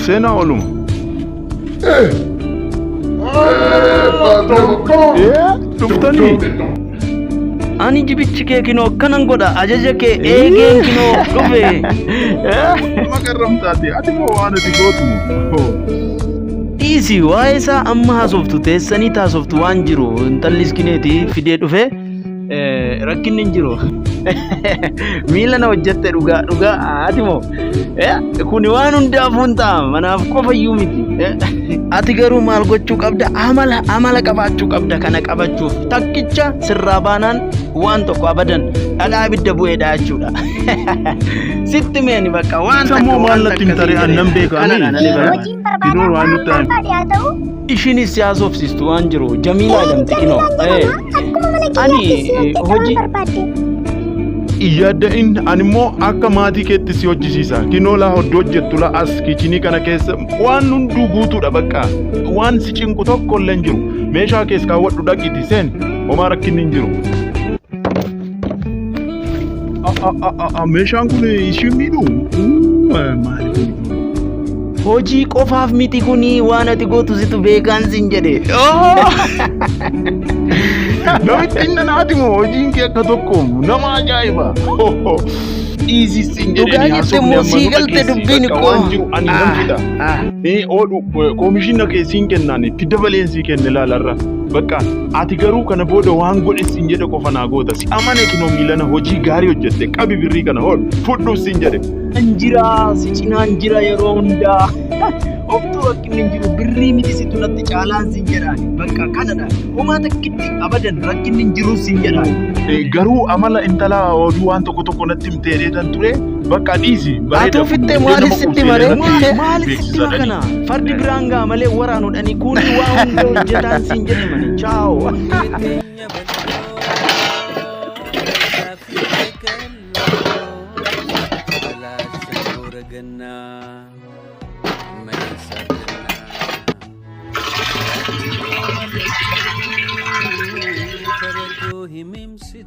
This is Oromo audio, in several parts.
Seenaa oluma. Dhuftanii. Ani jibichi kee kinoo akkanan godha ajaja kee eegeen kinoo dhufe. Maqarramtaati ati moo waan ati gootu moo. Dhiisi waa'ee isaa amma haasoftu teessanii taasoftu waan jiru intalli iskineeti fidee dhufe. rakkinni hin jiru. Miila na hojjette dhugaa dhugaa ati moo kuni waan hundaafuu hin ta'a manaaf qofa iyyuu miti. Ati garuu maal gochuu qabda amala amala qabaachuu qabda kana qabachuuf takkicha sirraa baanaan waan tokko abadan dhadhaa ibidda bu'eedha jechuudha. Sitti meeni bakka waan Isa moo maal natti hin tare an nan beeka ani. Hojiin Dinoo waan barbaadaan nutti aanu. barbaade haa ta'u Ishinis si haasofsiistu waan jiru Jamiilaa jedhamti kinoo. Eh, Ani eh, hojii Iyyaadda in ani immoo akka maatii keetti si hojjisiisa. Kinoolaa hoddu hojjettu la as kichinii kana keessa waan hunduu guutuudha bakka. Waan si cinqu tokko illee hin jiru. Meeshaa kees kaawwadhu dhaqiti seen homaa rakkinni hin jiru. Meeshaan kun ishiin miidhu maali kun? Hojii qofaaf miti kuni waan ati gootu situ beekaan sin jedhe. Namitti inni naati moo hojiin kee akka tokko nama ajaa'iba. Dhiisii sin jedhe Dhugaa jette moo sii galte dubbiin koo. Waan jiru ani nan fida. Ee oodhu koomishiina kee siin kennaan itti dabaleen sii kenne laalarra. Bakka Ati garuu kana booda waan godhi siin jedhe qofa naa goota. Si amane kinoo miilana hojii gaarii hojjette qabi birrii kana hol fudhu siin jedhe. An jira si cinaan jira yeroo hundaa. Oftuu rakkinni hin jiru birrii miti situ natti caalaan siin jedhaan. Bakka kanadha. Homaa takkitti abadan rakkinni hin jiru siin jedhaan. Garuu amala intalaa oduu waan tokko tokko natti himtee dheetan ture. Bakka dhiisi. Atuu fixxee maaliif sitti maree? Maaliif sitti makana? Fardi biraan gaa malee waraanuudhani kuuni waa hunda hojjetaan siin jedhe mani. Chaaw. Himimsi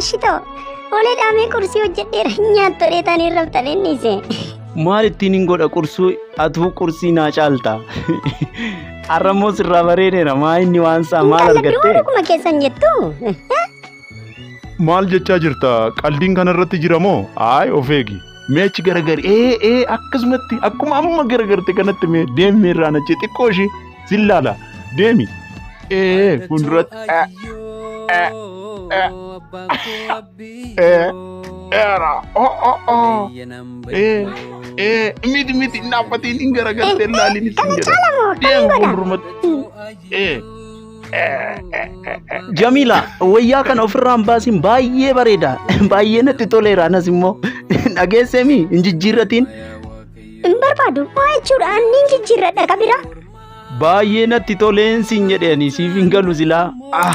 Ashitoo, olee dhaamee qursii hojjedheera nyaattu dheetaan hin raftan inni ise. Maal ittiin hin godha qursuu atuu qursii naa caalta. Arrammoo sirraa bareedeera maa inni waan isaa maal Intalli biroo argattee? dhuguma keessan jettu. Maal jechaa jirta? Qaldiin kanarratti jira moo? Aay of eegi. Mee achi garagari ee ee akkasumatti akkuma amma garagarte kanatti mee deemmi irraa nachi xiqqoo ishii sin laala deemi. Ee fuulduratti ee ee ee ee eera oo oo oo ee ee miti miti hin dhaabbatiin hin garagalte hin laaliin ittiin jedha deema fuuldurumatti ee. Jamiila wayyaa kana ofirraa hin baasiin baay'ee bareeda baay'ee natti toleera anas immoo dhageesseemi hin jijjiirratiin Hin barbaadu. Maa jechuudha anni hin jijjiirradha qabira. baay'ee natti toleen siin jedheeni siif hin galu silaa ah.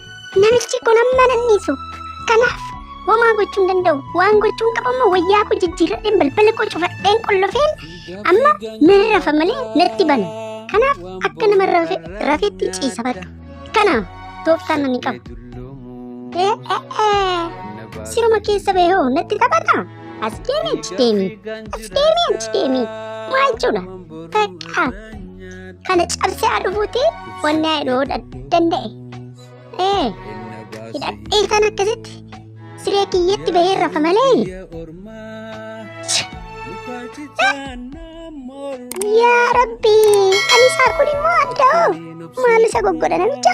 Namichi kun amma nan dhiisu. Kanaaf homaa gochuu hin danda'u. Waan gochuu hin qabu immoo wayyaa koo jijjiirradheen balbala koo cufadheen qollofeen amma nan rafa malee natti bana. Kanaaf akka nama rafe rafetti ciisa badhu. Kana tooftaan ani qabu. Ee ee ee siruma keessa bahee hoo natti taphata. As deemi achi deemi. As deemi achi deemi. Maa jechuudha? Takka kana cabsee haa dhufuuti wanni haa dhooda danda'e. Ee, hidhadhee kan akkasitti siree kiyyatti bahee rafa malee. Yaa Rabbi, ani isaa kun immoo adda'oo. Maal isa goggodha namicha?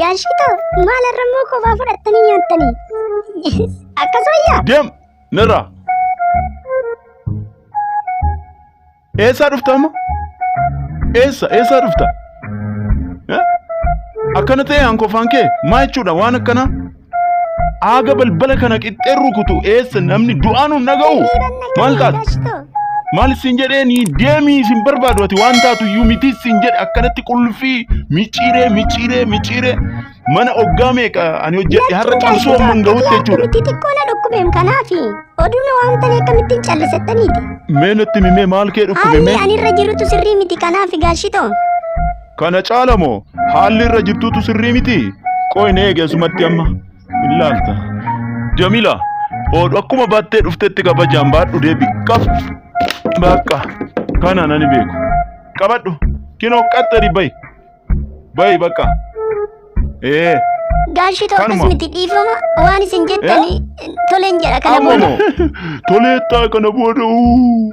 Gaashitoo maal har'ammoo kophaa fudhattanii nyaattanii? Akkas wayyaa? Deem nirraa. Eessaa dhufta amma? Eessa eessaa dhufta? Eh? Akkana ta'e hankofaan kee maa jechuudha waan akkanaa? Aaga balbala kana qixxeen rukutu eessa namni du'aan hin dhaga'u. Maal taate? Maal isin jedhee ni deemii isin barbaadu ati waan taatu iyyuu miti isin jedhe akkanatti qullfii micciiree micciiree micciiree mana oggaa meeqa ani hojjedhe har'a cabsuu amma hin gahutti jechuudha. Itti xiqqoo na dhukkubeem kanaafi oduun waan ta'e akkamittiin callisettaniiti. Mee natti mimee maal kee dhukkube Haalli mee? ani irra jirutu sirrii miti kanaafi gaashitoo. Kana caala moo haalli irra jirtuutu sirrii miti? Qoy na eegi asumatti amma. Hin laalta. Jamila, oodhu akkuma baattee dhuftetti kabajaan baadhu deebi. Qab. Bakka. Kana nani beeku. Qabadhu. Kinoo qaxxari bayi. Bayi bakka. Ee. Gaashii tokkos Kanuma. miti dhiifama waan isin jettanii toleen jedha kana Amma booda. moo toleettaa kana booda. uu.